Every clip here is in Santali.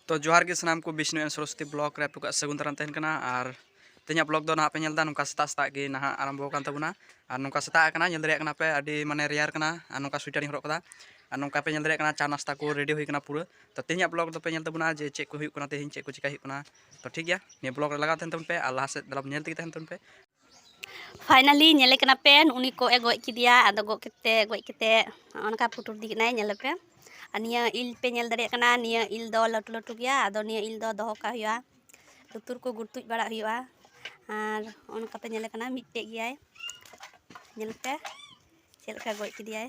ᱛᱚ ᱡᱚᱦᱟᱨ ᱜᱮ ᱥᱟᱱᱟᱢ ᱠᱚ ᱵᱤᱥᱱᱩ ᱮᱱ ᱥᱚᱨᱚᱥᱚᱛᱤ ᱵᱞᱚᱜ ᱨᱮ ᱟᱯᱮ ᱠᱚᱣᱟᱜ ᱥᱟᱹᱜᱩᱱ ᱫᱟᱨᱟᱢ ᱛᱟᱦᱮᱱ ᱠᱟᱱᱟ ᱟᱨ ᱛᱮᱦᱮᱧᱟᱜ ᱵᱞᱚᱜ ᱫᱚ ᱱᱟᱦᱟᱜ ᱯᱮ ᱧᱮᱞ ᱮᱫᱟ ᱱᱚᱝᱠᱟ ᱥᱮᱛᱟᱜ ᱥᱮᱛᱟᱜ ᱜᱮ ᱱᱟᱦᱟᱜ ᱟᱨᱟᱢᱵᱷᱚ ᱟᱠᱟᱱ ᱛᱟᱵᱚᱱᱟ ᱟᱨ ᱱᱚᱝᱠᱟ ᱥᱮᱛᱟᱜ ᱟᱠᱟᱱᱟ ᱧᱮᱞ ᱫᱟᱲᱮᱭᱟᱜ ᱠᱟᱱᱟ ᱯᱮ ᱟᱹᱰᱤ ᱢᱟᱱᱮ ᱨᱮᱭᱟᱨ ᱠᱟᱱᱟ ᱟᱨ ᱱᱚᱝᱠᱟ ᱥᱩᱭᱴᱟᱨᱤᱧ ᱦᱚᱨᱚᱜ ᱠᱟᱫᱟ ᱟᱨ ᱱᱚᱝᱠᱟ ᱯᱮ ᱧᱮᱞ ᱫᱟᱲᱮᱭᱟᱜ ᱠᱟᱱᱟ ᱪᱟ ᱱᱟᱥᱛᱟ ᱠᱚ ᱨᱮᱰᱤ ᱦᱩᱭ ᱠᱟᱱᱟ ᱯᱩᱨᱟᱹ ᱛᱚ ᱛᱮᱦᱮᱧᱟᱜ ᱵᱞᱚᱜ ᱫᱚᱯᱮ ᱧᱮᱞ ᱛᱟᱵᱚᱱᱟ ᱡᱮ ᱪᱮᱫ ᱠᱚ ᱦᱩᱭᱩᱜ ᱠᱟᱱᱟ ᱛᱮᱦᱮᱧ ᱪᱮᱫ ᱠᱚ ᱪᱤᱠᱟᱹ ᱦᱩᱭᱩᱜ ᱠᱟᱱᱟ ᱛᱚ ᱴᱷᱤᱠ ᱜᱮᱭᱟ ᱱᱤᱭᱟᱹ ᱵᱞᱚᱜ ᱨᱮ ᱞᱟᱜᱟᱣ ᱛᱟᱦᱮᱱ ᱛᱟᱵᱚᱱ ᱯᱮ ᱟᱨ ᱞᱟᱦᱟ ᱥᱮᱫ ᱫᱟᱞᱟᱢ ᱧᱮᱞ ᱛᱮᱜᱮ ᱛᱟᱦᱮᱱ ᱛᱟᱵᱚᱱ ᱯᱮ ᱯᱷᱟᱭᱱᱟᱞᱤ ᱧᱮᱞᱮ ᱠᱟᱱᱟ ᱯᱮ ᱩᱱᱤ ᱠᱚᱜ ᱮ ᱜᱚᱡ ᱠᱮᱫᱮᱭᱟ ᱟᱫᱚ ᱜᱚᱡ ᱠᱟᱛᱮ ᱜᱚᱡ ᱠᱟᱛᱮ ᱱᱚᱜᱼᱚ ᱱᱚᱝᱠᱟ ᱯᱩᱴᱩᱨ ᱤᱫᱤ ᱠᱮᱫᱟᱭ ᱧᱮᱞᱮ ᱯᱮ ᱟᱨ ᱱᱤᱭᱟᱹ ᱤᱞ ᱯᱮ ᱧᱮᱞ ᱫᱟᱲᱮᱭᱟᱜ ᱠᱟᱱᱟ ᱱᱤᱭᱟᱹ ᱤᱞ ᱫᱚ ᱞᱟᱹᱴᱩ ᱞᱟᱹᱴᱩ ᱜᱮᱭᱟ ᱟᱫᱚ ᱱᱤᱭᱟᱹ ᱤᱞ ᱫᱚ ᱫᱚᱦᱚ ᱠᱟᱜ ᱦᱩᱭᱩᱜᱼᱟ ᱞᱩᱛᱩᱨ ᱠᱚ ᱜᱩᱲᱛᱩᱡ ᱵᱟᱲᱟᱜ ᱦᱩᱭᱩᱜᱼᱟ ᱟᱨ ᱱᱚᱜᱼᱚ ᱱᱚᱝᱠᱟ ᱯᱮ ᱧᱮᱞᱮ ᱠᱟᱱᱟ ᱢᱤᱫᱴᱮᱡ ᱜᱮᱭᱟᱭ ᱧᱮᱞ ᱯᱮ ᱪᱮᱫ ᱞᱮᱠᱟ ᱜᱚᱡ ᱠᱮᱫᱮᱭᱟᱭ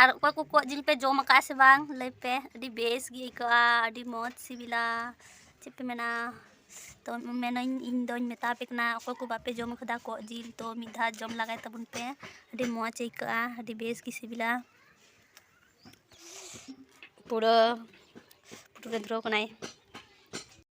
ᱟᱨ ᱚᱠᱚᱭ ᱠᱚ ᱠᱚᱜ ᱡᱤᱞ ᱯᱮ ᱡᱚᱢ ᱟᱠᱟᱫᱼᱟ ᱥᱮ ᱵᱟᱝ ᱞᱟᱹᱭ ᱯᱮ ᱟᱹᱰᱤ ᱵᱮᱥ ᱜᱮ ᱟᱹᱭᱠᱟᱹᱜᱼᱟ ᱟᱹᱰᱤ ᱢᱚᱡᱽ ᱥᱤᱵᱤᱞᱟ ᱪᱮᱫ ᱯᱮ ᱢᱮᱱᱟ ᱛᱚ ᱢᱮᱱᱟᱹᱧ ᱤᱧ ᱫᱚᱧ ᱢᱮᱛᱟ ᱯᱮ ᱠᱟᱱᱟ ᱚᱠᱚᱭ ᱠᱚ ᱵᱟᱯᱮ ᱡᱚᱢ ᱟᱠᱟᱫᱟ ᱠᱚᱜ ᱡᱤᱞ ᱛᱚ ᱢᱤᱫ ᱫᱷᱟᱣ ᱡᱚᱢ ᱞᱮᱜᱟᱭ ᱛᱟᱵᱚᱱ ᱯᱮ ᱟᱹᱰᱤ ᱢᱚᱡᱽ ᱟᱹᱭᱠᱟᱹᱜᱼᱟ ᱟᱹᱰᱤ ᱵᱮᱥ ᱜᱮ ᱥᱤᱵᱤᱞᱟ ᱯᱩᱨᱟᱹ ᱯᱩᱨᱟᱹ ᱫᱷᱩᱨᱟᱹᱣ ᱠᱟᱱᱟᱭ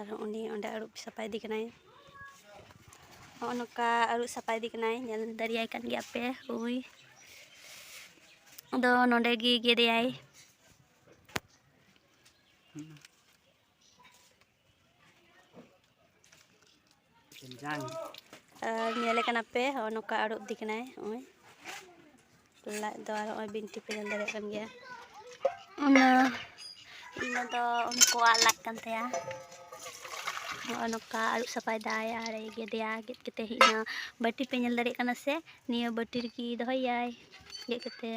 ᱟᱨ ᱩᱱᱤ ᱚᱸᱰᱮ ᱟᱹᱨᱩᱵ ᱥᱟᱯᱷᱟ ᱮᱫᱮ ᱠᱟᱱᱟᱭ ᱱᱚᱜᱼᱚ ᱱᱚᱝᱠᱟ ᱟᱹᱨᱩᱵ ᱥᱟᱯᱷᱟ ᱮᱫᱮ ᱠᱟᱱᱟᱭ ᱧᱮᱞ ᱫᱟᱲᱮᱭᱟᱭ ᱠᱟᱱ ᱜᱮᱭᱟ ᱯᱮ ᱩᱱᱤ ᱫᱚ ᱱᱚᱰᱮ ᱜᱮ ᱜᱮᱫ ᱮᱭᱟᱭ ᱟᱨ ᱧᱮᱞᱮ ᱠᱟᱱᱟ ᱯᱮ ᱦᱚᱸᱜᱼᱚ ᱱᱚᱝᱠᱟ ᱟᱹᱨᱩᱵ ᱤᱫᱤ ᱠᱟᱱᱟᱭ ᱱᱚᱜᱼᱚᱭ ᱞᱟᱡ ᱫᱚ ᱟᱨ ᱱᱚᱜᱼᱚᱭ ᱵᱤᱱᱴᱤ ᱯᱮ ᱧᱮᱞ ᱫᱟᱲᱮᱭᱟᱜ ᱠᱟᱱ ᱜᱮᱭᱟ ᱚᱱᱟ ᱤᱱᱟᱹ ᱫᱚ ᱩᱱᱠᱩᱣᱟᱜ ᱞᱟᱡ ᱠᱟᱱ ᱛᱟᱭᱟ ᱱᱚᱜᱼᱚ ᱱᱚᱝᱠᱟ ᱟᱹᱨᱩᱵ ᱥᱟᱯᱷᱟᱭᱮᱫᱟᱭ ᱟᱨ ᱜᱮᱫᱮᱭᱟ ᱜᱮᱫ ᱠᱟᱛᱮ ᱦᱮᱡ ᱮᱱᱟ ᱵᱟᱹᱴᱤ ᱯᱮ ᱧᱮᱞ ᱫᱟᱲᱮᱭᱟᱜ ᱠᱟᱱᱟ ᱥᱮ ᱱᱤᱭᱟᱹ ᱵᱟᱹᱴᱤ ᱨᱮᱜᱮ ᱫᱚᱦᱚᱭᱟᱭ ᱜᱮᱫ ᱠᱟᱛᱮ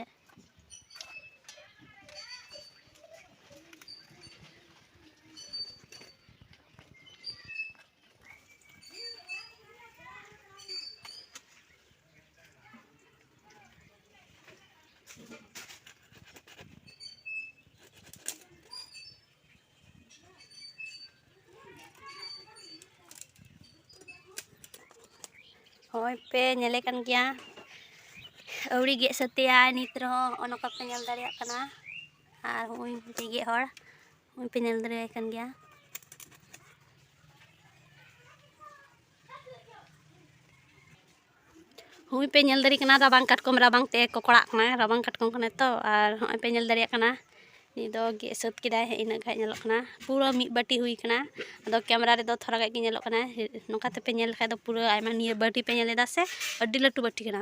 ᱦᱚᱸᱜᱼᱚᱭ ᱯᱮ ᱧᱮᱞᱮ ᱠᱟᱱ ᱜᱮᱭᱟ ᱟᱹᱣᱨᱤ ᱜᱮᱫ ᱥᱟᱹᱛᱮᱭᱟᱭ ᱱᱤᱛ ᱨᱮᱦᱚᱸ ᱱᱚᱜᱼᱚ ᱱᱚᱝᱠᱟ ᱯᱮ ᱧᱮᱞ ᱫᱟᱲᱮᱭᱟᱜ ᱠᱟᱱᱟ ᱟᱨ ᱦᱚᱸᱜᱼᱚᱭ ᱢᱤᱫᱴᱤᱡ ᱜᱮᱫ ᱦᱚᱲ ᱱᱚᱜᱼᱚᱭ ᱯᱮ ᱧᱮᱞ ᱫᱟᱲᱮᱭᱟᱭ ᱠᱟᱱ ᱜᱮᱭᱟ ᱦᱚᱸᱜᱼᱚᱭ ᱯᱮ ᱧᱮᱞ ᱫᱟᱲᱮᱭᱟᱜ ᱠᱟᱱᱟ ᱨᱟᱵᱟᱝ ᱠᱟᱴᱠᱚᱢ ᱨᱟᱵᱟᱝ ᱛᱮ ᱠᱚᱠᱲᱟᱜ ᱠᱟᱱᱟᱭ ᱨᱟᱵᱟᱝ ᱠᱟᱴᱠᱚᱢ ᱠᱟᱱᱟᱭ ᱛᱚ ᱟᱨ ᱦᱚᱸᱜᱼᱚᱭ ᱯᱮ ᱧᱮᱞ ᱫᱟᱲᱮᱭᱟᱜ ᱠᱟᱱᱟ ᱱᱤᱛ ᱫᱚ ᱜᱮᱫ ᱥᱟᱹᱛ ᱠᱮᱫᱟᱭ ᱤᱱᱟᱹᱜ ᱜᱟᱱ ᱧᱮᱞᱚᱜ ᱠᱟᱱᱟ ᱯᱩᱨᱟᱹ ᱢᱤᱫ ᱵᱟᱹᱴᱤ ᱦᱩᱭ ᱠᱟᱱᱟ ᱟᱫᱚ ᱠᱮᱢᱨᱟ ᱨᱮᱫᱚ ᱛᱷᱚᱲᱟ ᱜᱟᱱ ᱜᱮ ᱧᱮᱞᱚᱜ ᱠᱟᱱᱟ ᱱᱚᱝᱠᱟ ᱛᱮᱯᱮ ᱧᱮᱞ ᱞᱮᱠᱷᱟᱱ ᱫᱚ ᱯᱩᱨᱟᱹ ᱟᱭᱢᱟ ᱱᱤᱭᱟᱹ ᱵᱟᱹᱴᱤ ᱯᱮ ᱧᱮᱞ ᱮᱫᱟ ᱥᱮ ᱟᱹᱰᱤ ᱞᱟᱹᱴᱩ ᱵᱟᱹᱴᱤ ᱠᱟᱱᱟ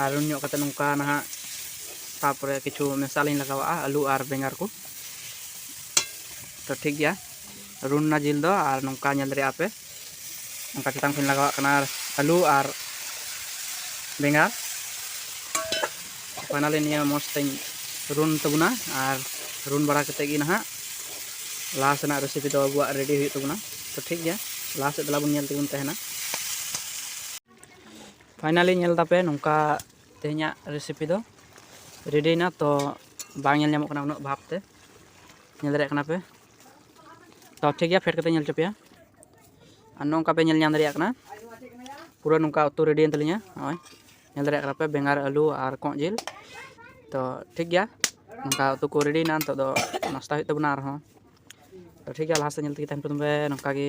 ᱟᱨ ᱨᱩᱱ ᱧᱚᱜ ᱠᱟᱛᱮ ᱱᱚᱝᱠᱟ ᱱᱟᱦᱟᱜ ᱛᱟᱯᱚᱨᱮ ᱠᱤᱪᱷᱩ ᱢᱮᱥᱟ ᱞᱤᱧ ᱞᱟᱜᱟᱣᱟᱜᱼᱟ ᱟᱹᱞᱩ ᱟᱨ ᱵᱮᱸᱜᱟᱲ ᱠᱚ ᱛᱚ ᱴᱷᱤᱠ ᱜᱮᱭᱟ ᱨᱩᱱ ᱨᱮᱱᱟᱜ ᱡᱤᱞ ᱫᱚ ᱟᱨ ᱱᱚᱝᱠᱟ ᱧᱮᱞ ᱫᱟᱲᱮᱭᱟᱜᱼᱟ ᱯᱮ ᱱᱚᱝᱠᱟ ᱪᱮᱛᱟᱱ ᱠᱷᱚᱱ ᱞᱟᱜᱟᱣᱟᱜ ᱠᱟᱱᱟ ᱟᱹᱞᱩ ᱟᱨ ᱵᱮᱸᱜᱟᱲ ᱯᱷᱟᱭᱱᱟᱞᱤ ᱱᱤᱭᱟᱹ ᱢᱚᱡᱽ ᱛᱮᱧ ᱨᱩᱱ ᱛᱟᱵᱚᱱᱟ ᱟᱨ ᱨᱩᱱ ᱵᱟᱲᱟ ᱠᱟᱛᱮ ᱜᱮ ᱱᱟᱦᱟᱜ ᱞᱟᱦᱟ ᱥᱮᱱᱟᱜ ᱨᱮᱥᱤᱯᱤ ᱫᱚ ᱟᱵᱚᱣᱟᱜ ᱨᱮᱰᱤ ᱦᱩᱭᱩᱜ ᱛᱟᱵᱚᱱᱟ ᱛᱚ ᱴᱷᱤᱠ ᱜᱮᱭᱟ ᱞᱟᱦᱟ ᱥᱮᱫ ᱫᱮᱞᱟ ᱵᱚᱱ ᱧᱮᱞ ᱛᱮᱵᱚᱱ ᱛᱟᱦᱮᱱᱟ ᱯᱷᱟᱭᱱᱟᱞᱤ ᱧᱮᱞ ᱛᱟᱯᱮ ᱱᱚᱝᱠᱟ ᱛᱮᱦᱮᱧᱟᱜ ᱨᱮᱥᱤᱯᱤ ᱫᱚ ᱨᱮᱰᱤᱭᱮᱱᱟ ᱛᱚ ᱵᱟᱝ ᱧᱮᱞ ᱧᱟᱢᱚᱜ ᱠᱟᱱᱟ ᱩᱱᱟᱹᱜ ᱵᱷᱟᱵᱽ ᱛᱮ ᱧᱮᱞ ᱫᱟᱲᱮᱭᱟᱜ ᱠᱟᱱᱟ ᱯᱮ ᱛᱚ ᱴᱷᱤᱠ ᱜᱮᱭᱟ ᱯᱷᱮᱰ ᱠᱟᱛᱮ ᱧᱮᱞ ᱦᱚᱪᱚ ᱯᱮᱭᱟ ᱟᱨ ᱱᱚᱝᱠᱟ ᱯᱮ ᱧᱮᱞ ᱧᱟᱢ ᱫᱟᱲᱮᱭᱟᱜ ᱠᱟᱱᱟ ᱯᱩᱨᱟᱹ ᱱᱚᱝᱠᱟ ᱩᱛᱩ ᱨᱮᱰᱤᱭᱮᱱ ᱛᱟᱹᱞᱤᱧᱟ ᱱᱚᱜᱼᱚᱭ ᱧᱮᱞ ᱫᱟᱲᱮᱭᱟᱜ ᱠᱟᱱᱟ ᱯᱮ ᱵᱮᱸᱜᱟᱲ ᱟᱹᱞᱩ ᱟᱨ ᱠᱚᱸᱜ ᱡᱤᱞ ᱛᱚ ᱴᱷᱤᱠ ᱜᱮᱭᱟ ᱱᱚᱝᱠᱟ ᱩᱛᱩ ᱠᱚ ᱨᱮᱰᱤᱭᱮᱱᱟ ᱱᱤᱛᱚᱜ ᱫᱚ ᱱᱟᱥᱛᱟ ᱦᱩᱭᱩᱜ ᱛᱟᱵᱚᱱᱟ ᱟᱨᱦᱚᱸ ᱛᱚ ᱴᱷᱤᱠ ᱜᱮᱭᱟ ᱞᱟᱦᱟ ᱥᱮᱫ ᱧᱮᱞ ᱛᱮᱜᱮ ᱛᱟᱦᱮᱱ ᱯᱮ ᱛᱚᱵᱮ ᱱᱚᱝᱠᱟ ᱜᱮ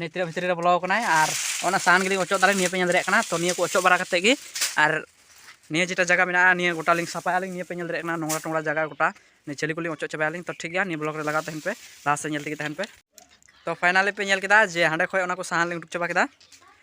ᱱᱤᱛ ᱨᱮ ᱵᱷᱤᱛᱨᱤ ᱨᱮ ᱵᱚᱞᱚ ᱠᱟᱱᱟᱭ ᱟᱨ ᱚᱱᱟ ᱥᱟᱦᱟᱱ ᱜᱮᱞᱤᱧ ᱚᱪᱚᱜ ᱫᱟᱞᱤᱧ ᱱᱤᱭᱟᱹ ᱯᱮ ᱧᱮᱞ ᱫᱟᱲᱮᱭᱟᱜ ᱠᱟᱱᱟ ᱛᱚ ᱱᱤᱭᱟᱹ ᱠᱚ ᱚᱪᱚᱜ ᱵᱟᱲᱟ ᱠᱟᱛᱮ ᱜᱮ ᱟᱨ ᱱᱤᱭᱟᱹ ᱡᱮᱴᱟ ᱡᱟᱭᱜᱟ ᱢᱮᱱᱟᱜᱼᱟ ᱱᱤᱭᱟᱹ ᱜᱚᱴᱟ ᱞᱤᱧ ᱥᱟᱯᱷᱟᱭᱟ ᱞᱤᱧ ᱱᱤᱭᱟᱹ ᱯᱮ ᱧᱮᱞ ᱫᱟᱲᱮᱭᱟᱜ ᱠᱟᱱᱟ ᱱᱚᱝᱨᱟ ᱴᱚᱝᱨᱟ ᱡᱟᱭᱜᱟ ᱜᱚᱴᱟ ᱱᱤᱭᱟᱹ ᱪᱷᱟᱹᱞᱤ ᱠᱚᱞᱤᱧ ᱚᱪᱚᱜ ᱪᱟᱵᱟᱭᱟ ᱞᱤᱧ ᱛᱚ ᱴᱷᱤᱠ ᱜᱮᱭᱟ ᱱᱤᱭᱟᱹ ᱵᱞᱚᱜ ᱨᱮ ᱞᱟᱜᱟᱣ ᱛᱟᱦᱮᱱ ᱯᱮ ᱞᱟᱦᱟ ᱥᱮᱫ ᱧᱮᱞ ᱛᱮᱜᱮ ᱛᱟᱦᱮᱱ ᱯᱮ ᱛᱚ ᱯᱷᱟᱭᱱᱟᱞᱤ ᱯᱮ ᱧᱮᱞ ᱠᱮᱫᱟ ᱡᱮ ᱦᱟᱸᱰᱮ ᱠᱷᱚᱡ ᱚᱱᱟ ᱠᱚ ᱥᱟᱦᱟᱱ ᱞᱤᱧ ᱩᱰᱩᱠ ᱪᱟᱵᱟ ᱠᱮᱫᱟ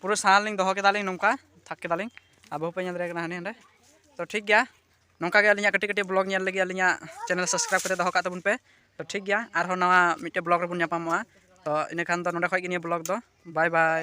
ᱯᱩᱨᱟᱹ ᱥᱟᱱᱟ ᱞᱤᱧ ᱫᱚᱦᱚ ᱠᱮᱫᱟᱞᱤᱧ ᱱᱚᱝᱠᱟ ᱛᱷᱟᱠ ᱠᱮᱫᱟᱞᱤᱧ ᱟᱨ ᱵᱟᱹᱦᱩ ᱯᱮ ᱧᱮᱞ ᱫᱟᱲᱮᱭᱟᱜ ᱠᱟᱱᱟ ᱦᱟᱸᱰᱮ ᱦᱟᱸᱰᱮ ᱛᱚ ᱴᱷᱤᱠ ᱜᱮᱭᱟ ᱱᱚᱝᱠᱟ ᱜᱮ ᱟᱹᱞᱤᱧᱟᱜ ᱠᱟᱹᱴᱤᱡ ᱠᱟᱹᱴᱤᱡ ᱵᱞᱚᱜ ᱧᱮᱞ ᱞᱟᱹᱜᱤᱫ ᱟᱹᱞᱤᱧᱟᱜ ᱪᱮᱱᱮᱞ ᱥᱟᱵᱥᱠᱨᱟᱭᱤᱵᱽ ᱠᱟᱛᱮ ᱫᱚᱦᱚ ᱠᱟᱜ ᱛᱟᱵᱚᱱ ᱯᱮ ᱛᱚ ᱴᱷᱤᱠ ᱜᱮᱭᱟ ᱟᱨᱦᱚᱸ ᱱᱟᱣᱟ ᱢᱤᱫᱴᱮᱡ ᱵᱞᱚᱜ ᱨᱮᱵᱚᱱ ᱧᱟᱯᱟᱢᱚᱜᱼᱟ ᱛᱚ ᱤᱱᱟᱹ ᱠᱷᱟᱱ ᱫᱚ ᱱᱚᱰᱮ ᱠᱷᱚᱡ ᱜᱮ ᱱᱤᱭᱟᱹ ᱵᱞᱚᱜ ᱫᱚ ᱵᱟᱭ ᱵᱟᱭ